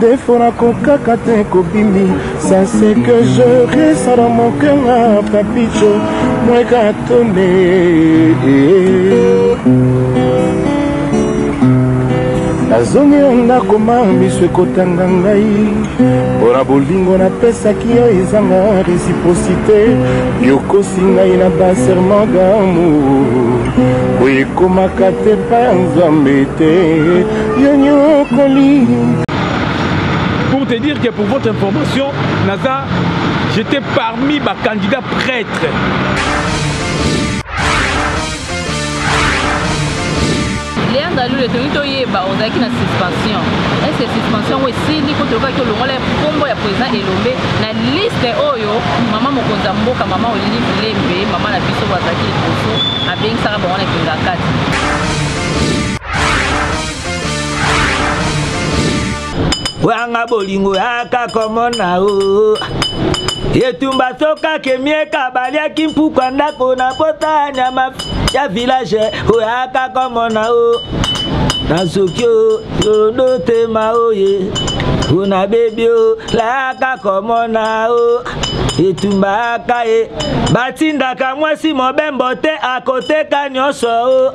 Des fois nakokaka te kobimi Ça c'est que je reste dans mon cœur ah, Papicho Moi gatone nazongi na ndako ma miso ekotanga ngai mpo na bolingo napesaki yo ezanga reciprocité yokosi ngai na baserment d'amour boye ekomaka te pa nzambe te Pour te dire que pour votre information, Naza, j'étais parmi ma candidat prêtre. Léa Ndalou, le tenu toyeba, on a qui na suspension. Est-ce que suspension ou esili ko toka ki olongola kombo ya président Elombe na liste oyo maman mokonzi ya mboka maman Olive Lembe, maman na biso bazaki liboso abengisaka bango na Kingakati. wanga bolingo yaka komona o etumba soka kemieka baliaki mpukwa ndako na pota nyama ya village oyaka komona o nazoki o yorodo tema oye una bebi o layaka komona o etumbaka ye batindaka mwasi mobembo te akoteka nyonso o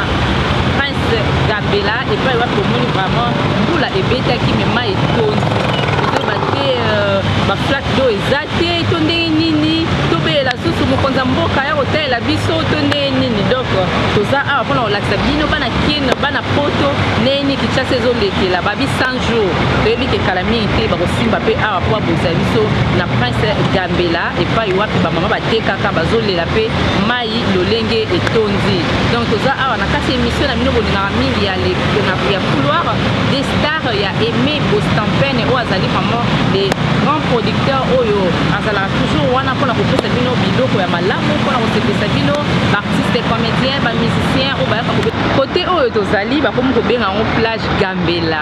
prince gabela epai wapi omoni vraiment mbula ebetaki me mai etondi tozoyeba te euh, baflak do eza te to ndenge nini tobelela susu mokonzi ya mboka ya kotalela biso to ndenge nini donc toza awa mpona kolakisa bino bana kin bana poto ndenge nini kinshasa ezolekela babi 100 jour toyebi ke kala mingi te bakosimba mpe awa mpo abongisa biso na prince gambela epai wapi bamama batekaka bazolela mpe mai lolenge etondi donc toza awa na kati ya émission na bino bolingaka mingi ya ya couloir des stars ya aimé bostampene oyo azali vraiment de grand producteur oyo azalaka toujours wana mpona kopesa bino biloko ya malamu mpona kosepesa bino baartiste comédien bamusicien oyo bayaka kote oyo tozali bakomi kobenga yango plage gambela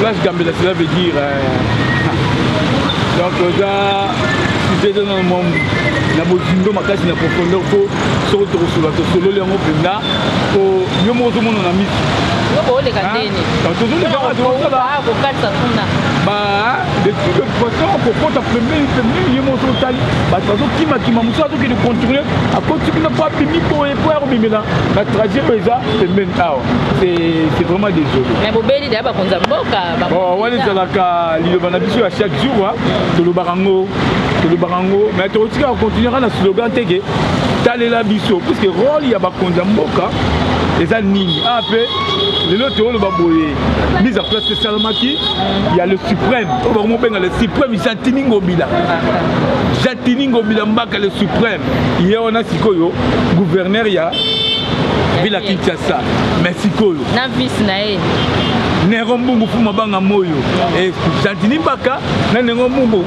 Flash Gambela, cela veut dire. Euh, donc, là, sujet de nos membres, na bozindo makasi na profondeur po soko tokosolola tosololi yango mpenza po yo moko ozomona na miso oleka ndeni tozolekakokatisa kuna de toute façon kokota pembeni pembeni ye moko otali bato bazokimakima mosusu azokende contourne akoti kuna po abimi boye po ya kobimela na trajet oyo eza pembeni awa c'est vraiment désolé mais bobeli deya bakonzi ya mboka wana ezalaka liloba na biso ya chaque jour tolobaka yango tolobaka yango mais tokotikaka continuaka na slogan te ke talela biso puiske role ya bakonzi ya mboka eza nini a ah, mpe lelo tooloba boye mise en place esalamaki ya le suprême oyo bango mobenga le suprême jatini ngobila jatini ngobila mbaka le suprême ye wana sikoyo gouverneur ya vila kinshasa mais sikoyo na vise na ye nero mbungu fuma banga moyo e gentini baka na nero mbungu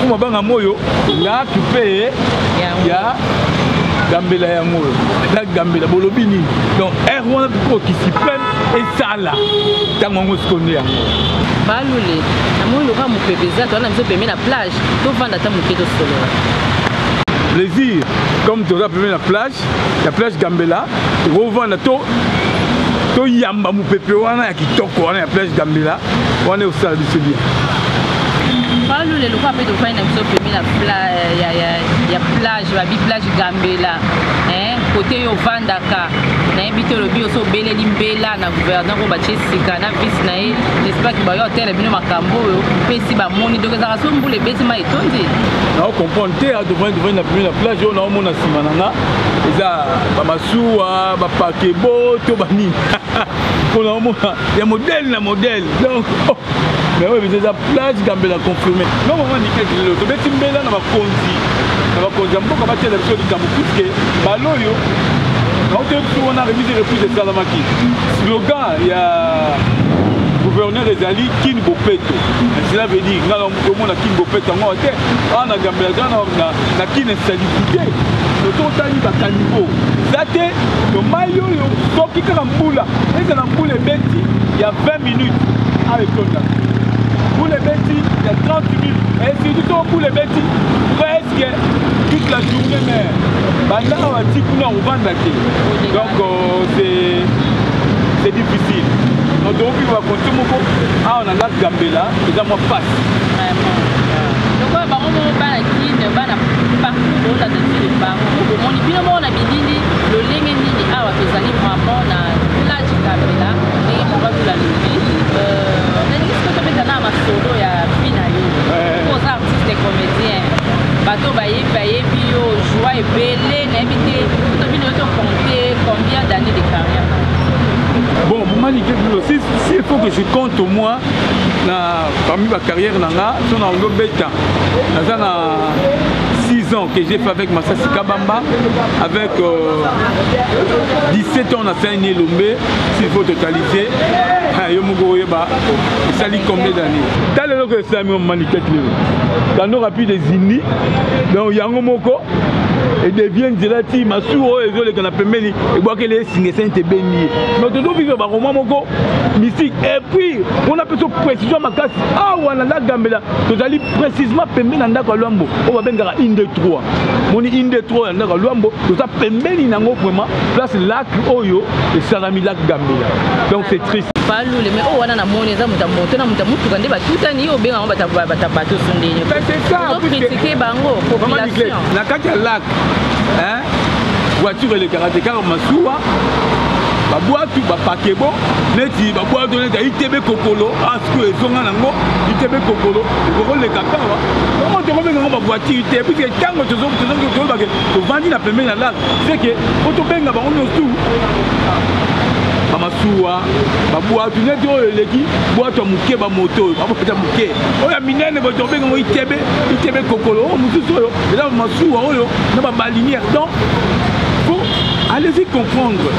fuma banga moyo la kipe ya gambela yango oyo eza gambela bolobi nini donc aire wana tuko kisipene esala ntango yango sikonde yango balule namoni lokola mopepe eza towana biso pembe na plage tovanda ata moke tosolola plaisir comme toza pembe na plage kati ya plage gambela tokovanda to toyamba mopepe wana ya kitoko wana ya plage gambela wana ekosala biso bien palu lelo kwa mpe tofandi na biso pemi na ya plage babi plage gambela kote yo ovandaka nayebi te olobi oso obeleli mbela na gouverneur oyo batye sika na vice na ye nespaki bayo otela bino makambo oyo mpesi bamoni donc ezalaka so mbula ebeti mai tondi nao comprendre te adovani dovani na pembe na plage oyo naomona nsima na nga eza bamasuwa bapakebo to banini mpo naomona ya modele na modele donc oh, mais oyo biza eza plage gambela confirme no mama nikaki lelo tobeti mbela na bakonzi na bakonzi ya mboka batela biso likambo puiske bala oyo naotoyebi biso wana remise de reprise esalamaki slogan ya gouverneur ezali kin bopeto cela veut dire tomona kin bopeta yango te awa na gambela za na kin insalubrité tototani bakanivo eza te to mai oyo soki kaka mbula ezala mbula ebeti ya 20 minutes awa etonda mbula ebeti ya 30 minutes esidi to mbula ebeti presque toute la journée mais banda awa ti kuna ovanda te donc euh, c'est difficile donc tokoki bakonti moko awa Nga gambela eza mwa pasi. Vraiment. Lokola bango moko bana kin bana partout bolanda ti le partout bomoni bino moko na bilili lolenge nini awa tozali vraiment na plage gambela ndenge moko azula lobi nalingi siko tobeta na masolo ya vi na yo po oza artiste comédien bato bayebi bayebi yo joie ebele nayebi te tobino yo tocompte combien d'année de carrière bon mumani ke bilo s'il faut que je compte moi na parmi ba carrière na nga so na ondo beta naza na 6 ans que j'ai fait avec Massassi Kabamba avec euh, 17 ans na Saini Elombe s'il faut totaliser yo moko oyeba esali combien d'année ta lelo ko esalami manikete lelo kando rapide des unis donc yango moko edevie nzela ti masuwa oyo ezoleka na pembeni ebwakeli ye singa esente ebendi ye donc tozovivre baroma moko mystique et puis mpona mpe so précision makasi awa na la gambela tozali précisement pembeni na ndako ya lwambo oyo babengaka inde 3 moni inde 3 ya ndako ya lwambo toza pembeni na yango vraiment place lac oyo esalami lac gambela donc c'est triste balule me oyo oh, wana na moni eza moto ya moto na moto ya motuka nde batutani yo obenga yango batabato sondeni okritike bango population na kati ya lac voiture elekaka te kaka masuwa babwatu bapakebo neti babwatu neti itebe kokolo asiko ah, ezonga nango itebe kokolo ekokoleka kawa yango tokobenga yango bavoitire te puiske ntango toyebake tovandi na pembeni ya lal seke po tobenga bango nyonso bamasuwa babwatu neti oyo eleki bwatu ya moke bamoto oyo babwatu ya moke oyo ya minene botokobenga yango itebe itebe kokolo oyo oh, mosusu oyo eza masuwa oyo na babalinière donc po allez-y comprendre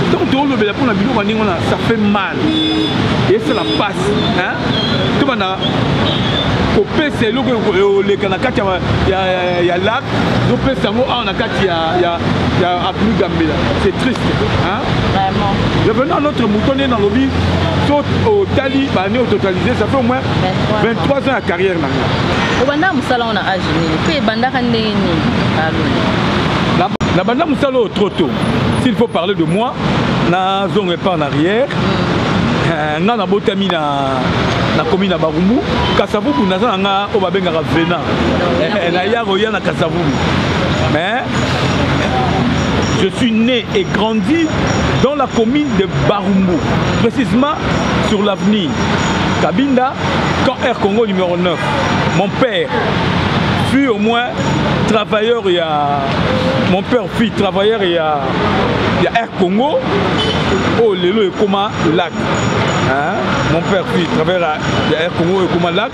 ntango toolobela mpo na biloko ya ndenge wana ça fait mal esala mpasi tobanda kopesa eloko eoleka na kati ya lak topesa yango awa na kati ya avenue gambela c'est triste revenant à notre mouton nde nalobi so otali bane ototalise ça fait au moins 23 ans ya carrière na nga yango na age nini mpe ebandaka ndenge nini balona nabanda mosala oyo trop tôt s'il faut parler de moi nazonga epa en arrière mm. eh, nga nabotami na na komi na barumbu kasavubu naza na nga oyo babengaka vena eh, eh, naya koya na kasavubu mais je suis né et grandi dans la commune de barumbu précisément sur l'avenue kabinda camp air congo numéro 9 Mon père fut au moins travailleur il y a mon père fut travailleur il y a il y a Air Congo oh lelo et comment lac hein mon père fut travailleur il y a Air Congo et comment lac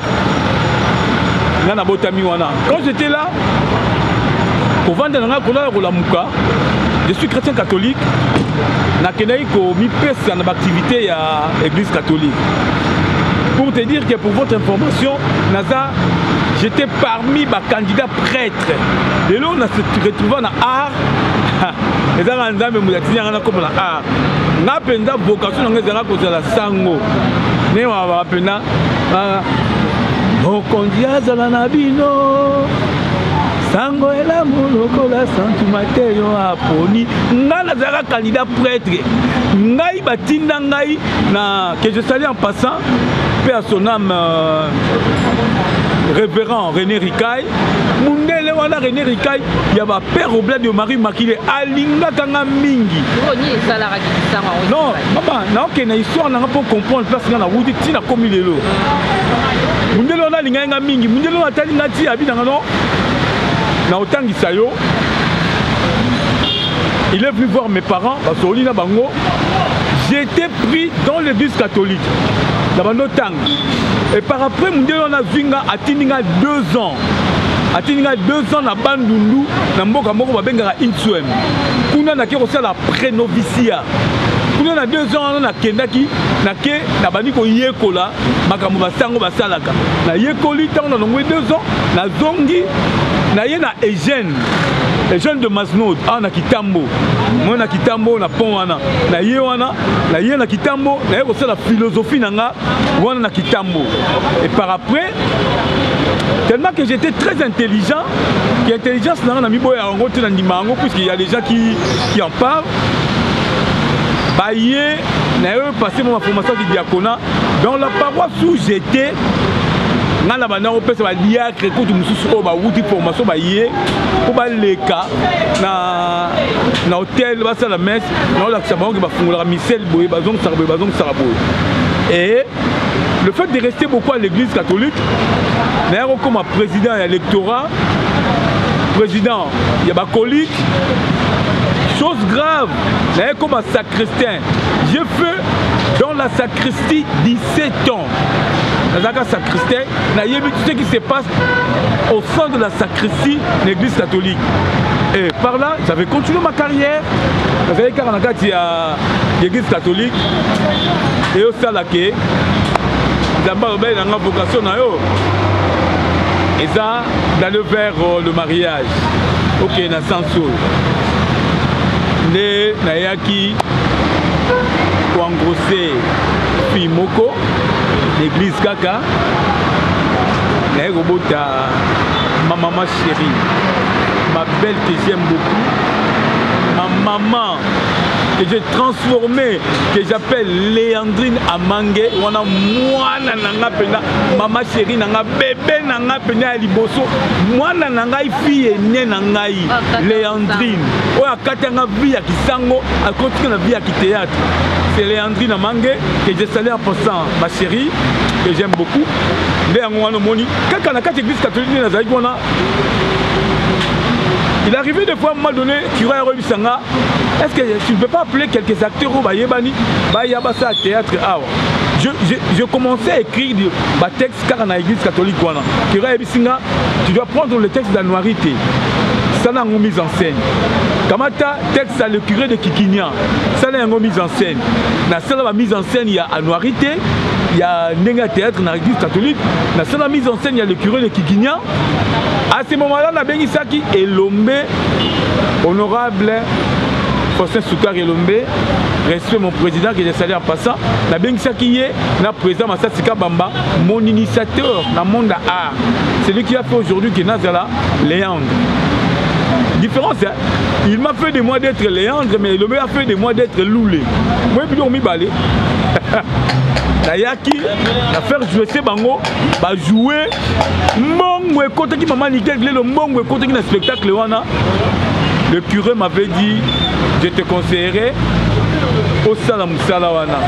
nga na botami wana quand j'étais là kovanda na nga kolala kolamuka je suis chrétien catholique nakendaki komipesa na baaktivité ya Église catholique. Pour te dire que pour votre information, Naza, j'étais parmi ma candidat prêtre. Et là, on a se retrouvé dans art. Et là, on a même la tigna na comme la art. Nga penza vocation nga zala ko zala sango. Ne wa wa pena. Mokonzi azala na bino sango elamu lokola santu mateyo aponi ngai nazalaka candidat prêtre ngai batinda ngai na que je sali en passant mpe à son âme euh, révérend rené rikai mundele wana rené rikai ya bapère obla de marie makile alingaka nga mingi non mama naokende na histoire nanga mpo comprendre place nga nawuti ntina komi lelo mundele wana alingaki nga mingi mundele wana atali nga ti abi nanga no na otangisa yo il est venu voir mes parents basololi na bango j'étais pris dans l'église catholique na bando tanga et par après mondele wana azwi nga atindi nga deux ans atindi nga deux ans na bandundu na mboka moko babengaka inswem kuna nake kosala prenovicia kuna na deux ans wana nakendaki nake nabandi koyekola makambo basango basalaka nayekoli ntango nalongwe deux ans nazongi naye na eugène eugène de masnod awa na kitambo moi na kitambo na pont wana naye wana naye na kitambo naye kosala philosophie na nga wana na kitambo et par après tellement que j'étais très intelligent que intelligence na nga na miboya yango te na ndima yango puisque ya les gens qui, qui en parlent baye naye passé ma formation du diaconat dans la paroisse où j'étais ngai na banda kopesa badiacre kutu mosusu oyo bawuti formation baye mpo baleka na na hotel basala messe naolakisa bango ke bafungolaka misele boye bazongisaka boye bazongisaka boye e le fait de rester beaucoup à l'église catholique naya kokoma président ya lectorat président ya bacolike chose grave naye koma sacristain J'ai fait dans la sacristie 17 ans. nazalaka sacristain nayebi tout ce qui se passe au sein de la sacristie na l'église catholique et par là j'avais continué ma carrière nazalaki kaka na kati ya l'église catholique eyosala ke nzambe alobali na nga vocation na yo eza d'aller vers euh, le mariage okende na senso nde nayaki ki ko engrosser fille moko l'église kaka naye kobota ma maman chérie ma belle que j'aime beaucoup ma maman que j'ai transformé, que j'appelle Léandrine Amangue, on a mwana nanga pena, maman chérie nanga, bébé nanga pena ya liboso, mwana nanga fille née nanga leandrine oyo akatanga vie ya kisango akotika na vie ya kiteatre c'est leandrine amange que je salue en passant ma chérie que j'aime beaucoup nde yango wana omoni kaka na kati église catholique nde nazalaki wana il arrivé des fois moment donné kiro ya koyebisa nga est ce que tu ne peux pas appeler quelques acteurs oyo bayebani baya basala théâtre awa je, je, je commençais à écrire batexte kaka na église catholique wana kero ayebisi nga tu dois prendre le texte d'anuari te sala yango mise en scène kamata texte ya le curé de kikinia sala yango mise en scène nasala ba mise en scène ya anuari te ya ndenge ya théâtre na église catholique nasala mise en scène ya le curé de kikinia à ce moment là nabengisaki elombe honorable faustin sukar elombe respect mon président que je salue en passant nabengisaki ye na président Massassi Kabamba, mon initiateur dans le monde art. C'est lui qui a fait aujourd'hui que Nazala Léandre. Différence, hein? il m'a fait de moi d'être Léandre, mais il m'a fait de moi d'être Loulé. Moi, je suis balé. nayaki na faire joue se bango bajoue mbongo ekotaki mama nikel lelo mbongo ekotaki na spectacle wana le curé m'avait dit je te conseillerai osala sala wana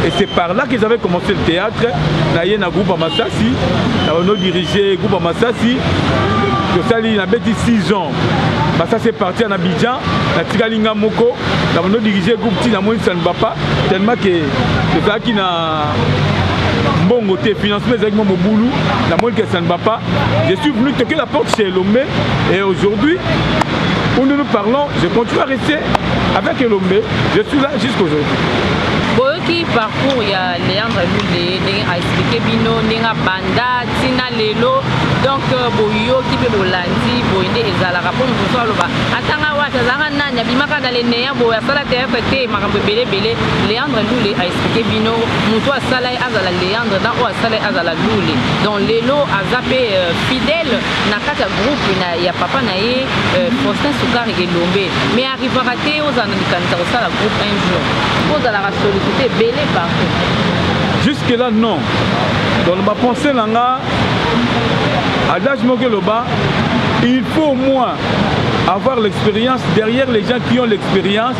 et c'est par là que j'avais commencé le théâtre naye na groupe ya masasi na bano dirige groupe ya masasi tosali nabeti 6 ans masasi epartir na bidjan natikali nga moko na bando dirige groupe ti namonisani bapa tellement ke tozalaki na mbongo te financement ezalaki mwa mobulu namoni ke sani bapa je suis venu toke la porte chez elombe et aujourd'hui où nous nous parlons je continue à rester avec elombe Je suis là jusqu'aujourd'hui. boyoki parcours ya leandre lule ndenge aexplike bino ndenge abanda ntina lelo donc euh, boyoki mpe bolandi boye nde ezalaka mpo mosusu aloba atanga wapi azalaka nani abimaka na leneya boye asala teatre te makambo ebele ebele leandre lule aexplike bino moto asala ye azala leandre na oyo asala ye azala lule donc lelo aza mpe euh, fidèle na kati ya groupe ya papa na ye euh, faustin sukari elombe mais arrivaka te ozala na likanisa kosala groupe un jour po ozalaka sollicite ebele partout jusque là non donc na bapense na nga adage moko eloba il faut au moins avoir l'expérience derrière les gens qui ont l'expérience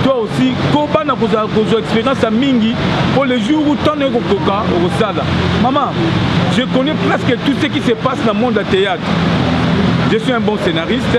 toi aussi koba na kozala kozwa expérience ya mingi mpo le jour où ntango naye kokoka okosala mama je connais presque tout ce qui se passe na monde ya théâtre je suis un bon scénariste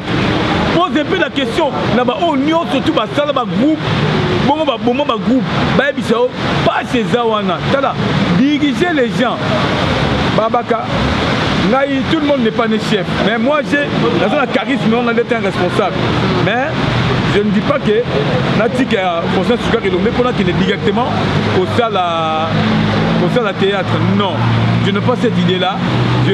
pose mpe la question na baoyo nyonso tu basala bagroupe bongo baboma bagroupe bayebisa yo pasi eza wana tala dirige les gens babaka ngai tout le monde n'est pas né chef mais moi j'ai naza na charisme wana ndete un responsable mais je ne dis pas que natika ya conscience sukaka elombe mpo nakende directement kosala kosala théâtre non je ne pas cette idée là je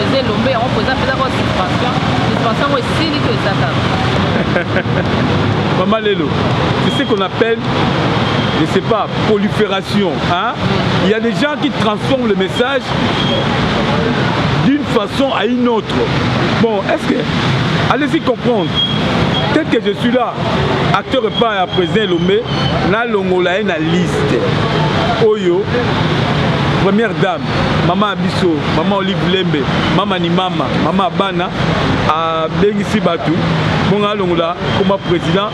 eza elombe yango mpo eza mpenza kaka suspension suspension yango esili to eza kaka mama lelo tu sais qu'on appelle je sais pas prolifération hein mm. il y a des gens qui transforment le message d'une façon à une autre bon est-ce que allez-y comprendre tel que je suis là acteur epai ya président elombe nalongola ye na liste oyo première dame mama ya biso mama olive lembe mama ni mama mama ya bana abengisi bato bonga alongola koma président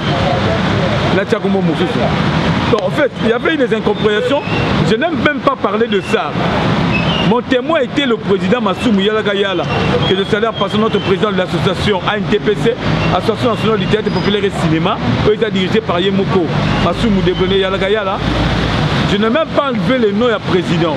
natya kombo mosusu donc en fait il y avait des incompréhensions je n'aime même pas parler de ça Mon témoin était le président Massoumou Yalagayala, que je salue en passant notre président de l'association ANTPC, Association nationale du théâtre populaire et cinéma, eux étaient dirigés par Yemoko Massoumou Debrené Yalagayala. Je n'ai même pas enlevé le nom du président.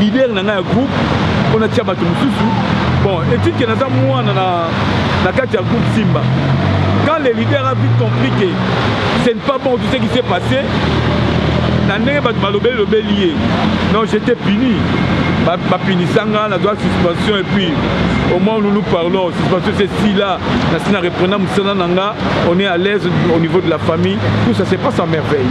leader na ngai ya groupe mpo natia bato mosusu bon etike naza mwana na, na kati ya groupe simba quand le leader a vite compris que ce n'est pas bon tout ce qui s'est passé na ndenge bato balobeli lobeli ye non j'étais puni bapinisa nga nazwa suspension et puis au moins nous nous parlons suspension c'est si là nasi na reprena mosala na nga on est à l'aise au niveau de la famille tout ça se passe en merveille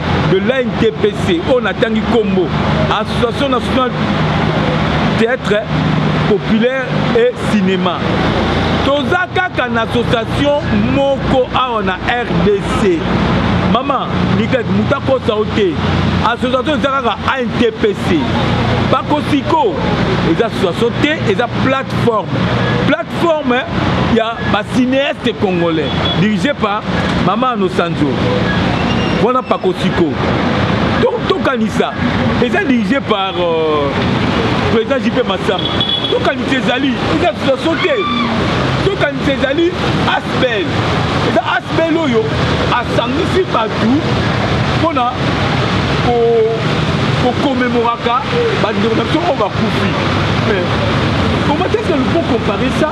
de l'ANTPC oyo natangi nkombo association nationale théâtre populaire et cinéma toza kaka na association moko awa na rdc mama nikaki moto akosa yo te association eza kaka antpc bakosiko eza association te eza plateforme plateforme ya ba cinéaste congolais dirigé par mama anosanzo wana pakosiko tokanisa eza dirigé par euh, président jp masama tokanisa ezali eza association te tokanisa ezali asbel eza asbel oyo asangisi bato mpona kokomemoraka bandeko na biso oyo bakufi mais comment est ce que nous pouvons comparer ça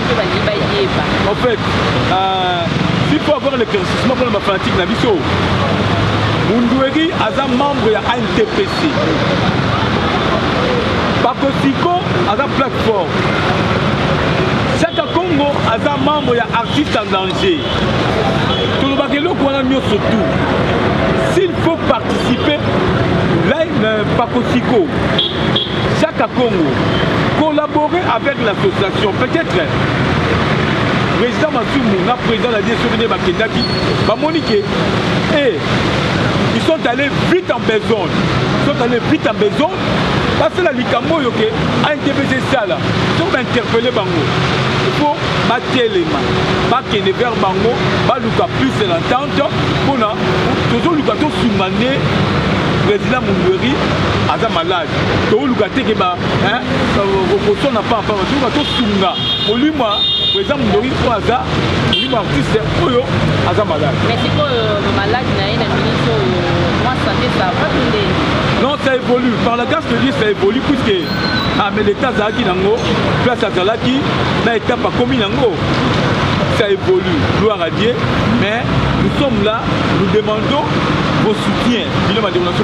mpe balingi bayeba en fait euh, il faut avoir l'éclaircissement mpona bafanatique na biso mundueri aza membre ya antpc bakosiko aza plateforme chaka congo aza membre ya artiste en danger tolobaka eloko wana nyonso tout s'il faut participer là, euh, pakosiko Jacques Congo, collaborer avec l'association, peut-être président Masumu na président Nadie soki nde bakendaki bamoni ke e ils sont allés vite en besogne ils sont allés vite en besogne basala likambo oyo ke antbc esala soki bainterpele bango mpo batelema bakende vers bango baluka plus de l'entente mpona tozoluka tosunga nde président mungweri aza malade tooluka te ke kosona pampa toyoka tosunga molimo eza mondoi oyo aza molimo artiste oyo aza malade mais sikoyo maladi na ye na minute oyo mwa sante sava to nde non ça évolue par la grâce de dieu ça évolue puisque ameleta ah, azalaki nango place azalaki na étape akomi nango ça évolue gloire à dieu mais nous sommes là nous demandons vos soutiens bino bandeko na biso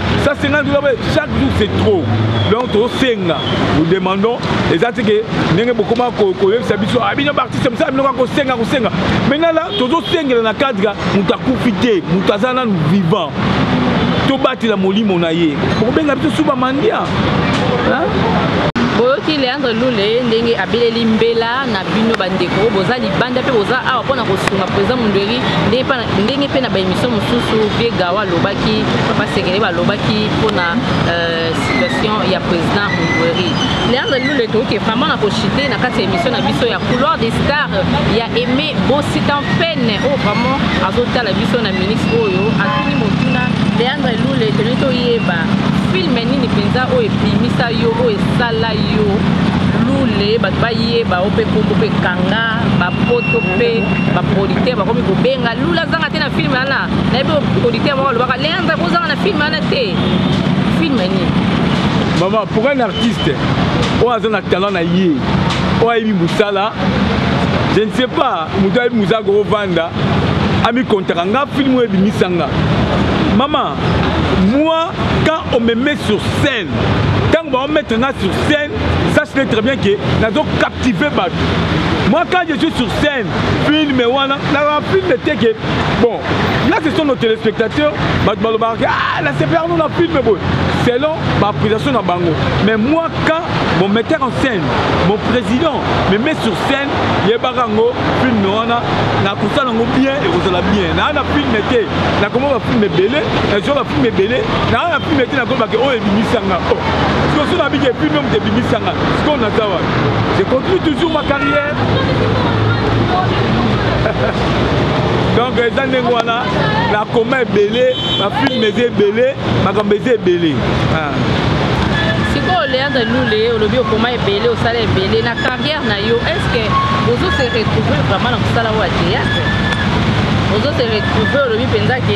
ça 50 dollars chaque jour c'est trop donc tosenga nous demandons eza te ke ndenge bokoma koyebisa biso ah, bino baartiste mosala bino kaka kosenga kosenga maintenant la tozosengela na cadre moto akufi te moto aza nanu vivant tobatela molimo na ye bokobenga biso suba mandia boyoki leandre lule ndenge abeleli mbela na bino bandeko boza libanda mpe boza awa mpona kosunga président mondeli ndenge ndenge mpe na baemission mosusu vie gawa alobaki papa sekele balobaki mpona euh, situation ya président mungweri leandre lule toyoki vraiment na kochite na kati ya émission na biso ya couloir des stars ya aimé bositan pene oyo oh, vraiment azotala biso na ministre oyo atuni motuna leandre lule tolingi toyeba filme nini mpenza oyo ebimisa yo oyo esala yo lule bato bayeba o mpe kombo mpe kanga ba poto pe ba producteur bakomi kobenga lula zanga te na film wana nayebi producteur moko alobaka leandre kozanga na film wana te film nini mama pourquoi un artiste oyo aza na talent na ye oyo ayebi mosala je ne sais pas moto ayebi mosala kokovanda amikontaka nga film oyo ebimisa nga mama moi quand on me met sur scène ntango baomettre nga sur scène sache le très bien que nazo captiver bato moi quand je suis sur scène film wana nalaa film te ke bon là ce sont nos téléspectateurs bato balobaka ah na sepelaka no na film boye selon baappréciation na bango mais moi quand mon metteur en scène mon président me met sur scène yebaka yango film wana nakosala yango bien ekozala bien naa na film te nakoma bafilm ebele nazwa bafilm ebele naa na filme te nakolobake oyo ebimisanga o siko so nabiki filme moto ebimisanga sikoyo naza wapi je continue toujours ma carrière donc eza ndenge wana nakoma ebele bafilme eza ebele makambo eza ebele ah. sikoyo leandre lule olobi okoma ebele osala ebele na carrière na yo est ce que ozo se retrouver vraiment na mosala oyo ya théâtre ozo se retrouver olobi mpenza ke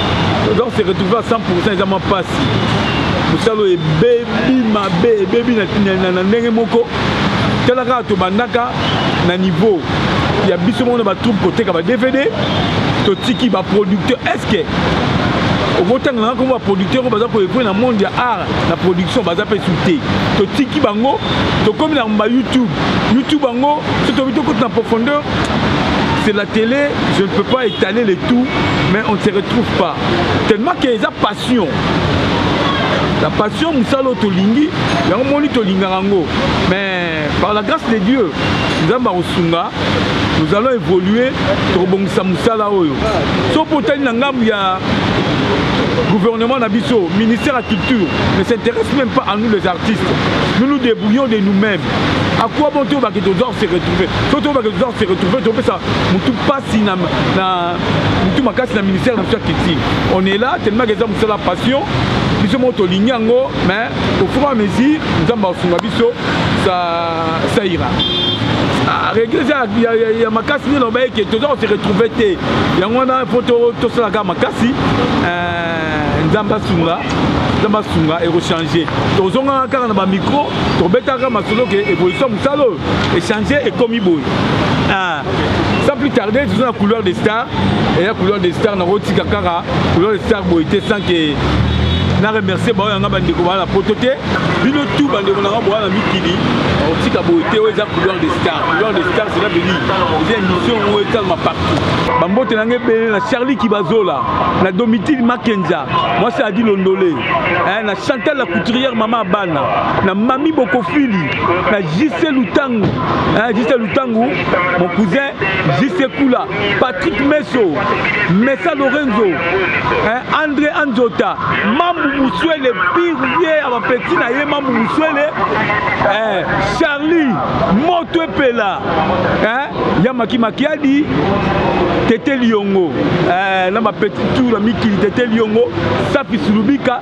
donc se retrouver à 100 eza mwa mpasi mosala oyo ebebi mabe ebebi na ndenge moko tala kaka tobandaka na niveau ya biso moko na batroupe koteka ba dvd totiki baproducteur estce okotanga nanga kombo baproducteur oyo baza koekwe na monde ya art na production baza mpe su te totiki bango tokomi na ba youtube youtube yango so tobi tokoti na profondeur c'est la télé je ne peux pas étaler le tout mais on ne se retrouve pas tellement que eza passion la passion mosala oyo tolingi yango moni tolingaka yango mais par la grâce de dieu nzambe akosunga nous allons évoluer tokobongisa mosala oyo so mpo otali na ngambo ya gouvernement na biso ministère ya culture ne s'intéresse même pas à nous les artistes nous nous débrouillons de nous-mêmes à quoi bon tobake tozor se retrouver so tobake tozor se retrouver topesa motu mpasi na, na mutu makasi na ministère na biso ya culture on est là tellement que eza mosala passion biso moko tolingi yango mais au fur et à mesure nzambe akosunga biso ça ira ah, regle eza ya makasi nde loba eke toza kose retrouve te yango wana mpo tosala kaka makasi eh, nzambe asunga nzambe asunga ekochange tozongaka kaka na bamikro tobetaka masolo ke evolution mosala oyo echange ekomi boye ah. sans plus tarder toza na couloir de star eya couloir de star nakotika kaka couloir de star boye te sans ke na remercie baoyo yanga bandeko baa na poto te bino tu bandeko nanga boa na mikili otika boye te oyo eza couloir de star couloir de star cela veut dire eza émission oyo etalama partout bambote nanga ebele na charlie kibazola na domitile makenza mwasi adi londole eh, na chantal la couturière mama abana na mami bokofili na JC Lutangu hein, JC Lutangu mon cousin JC Kula Patrick Meso Mesa Lorenzo hein, André Anzota Mambu Muswele pire vieux ya bapeti na ye Mambu Muswele hein, Charlie Moto Epela hein, ya Maki Makiadi Tete Liongo hein, na bapeti tour na mikili Tete Liongo Safi Sulubika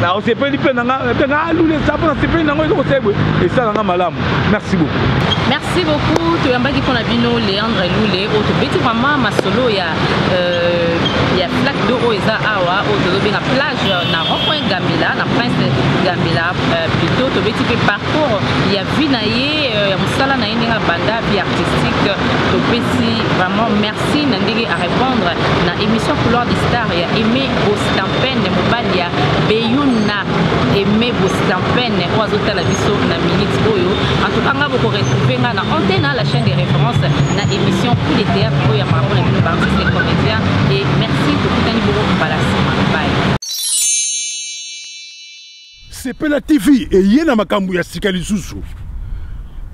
na osepeli mpe nanga mpe nga alula eza mpo nasepeli nango eloko sebwe esala nga malamu merci beaucoup merci beaucoup toyambaki mpo na bino leandre lule oyo tobeti vraiment masolo ya euh, ya plaque do oyo eza awa oyo tozobenga plage na rond-point gambela na prince gambela euh, plutot tobeti mpe parcours ya vie na ye euh, ya mosala na ye ndenge abanda vie artistique topesi vraiment merci na ndenge arépondre na émission couloir de star ya Aime Bostampene mobali ya Beyuna Aime Bostampene oyo azotala biso na minute oyo en tout cas nga boko retrouver nga na antenne hein, la chaîne de référence na émission coup de théâtre oyo ya marabo na bino baartiste et comédien et merci tokutani boko mbala nsima bye Sepela TV eye na makambo ya sika lisusu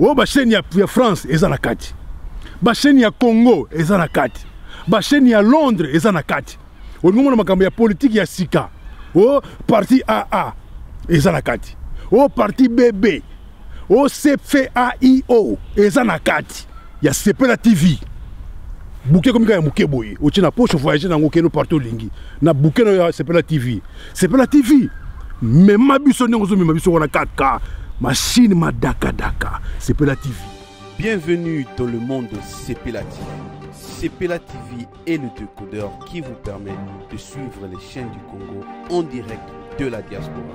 oyo oh, basheni ya, ya France eza na kati, basheni ya Congo eza na kati, basheni ya Londres eza na kati. Olingi omona makambo ya politiki ya sika o oh, parti AA eza na kati o oh, parti BB OCFAIO eza na kati ya Sepela TV. Bouquet comme ya muke boye, otie na poche voyager nango keno partout lingi. Na bouquet na ya Sepela TV. Sepela TV. Mema biso ndenge ozo mema biso wana kaka machine madaka daka. Sepela TV. Bienvenue dans le monde de Sepela TV. Sepela TV est le décodeur qui vous permet de suivre les chaînes du Congo en direct de la diaspora.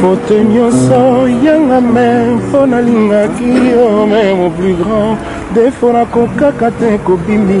faute nyonso yanga me mpo nalingaki yo me mon plus grand defo nakokaka te kobimi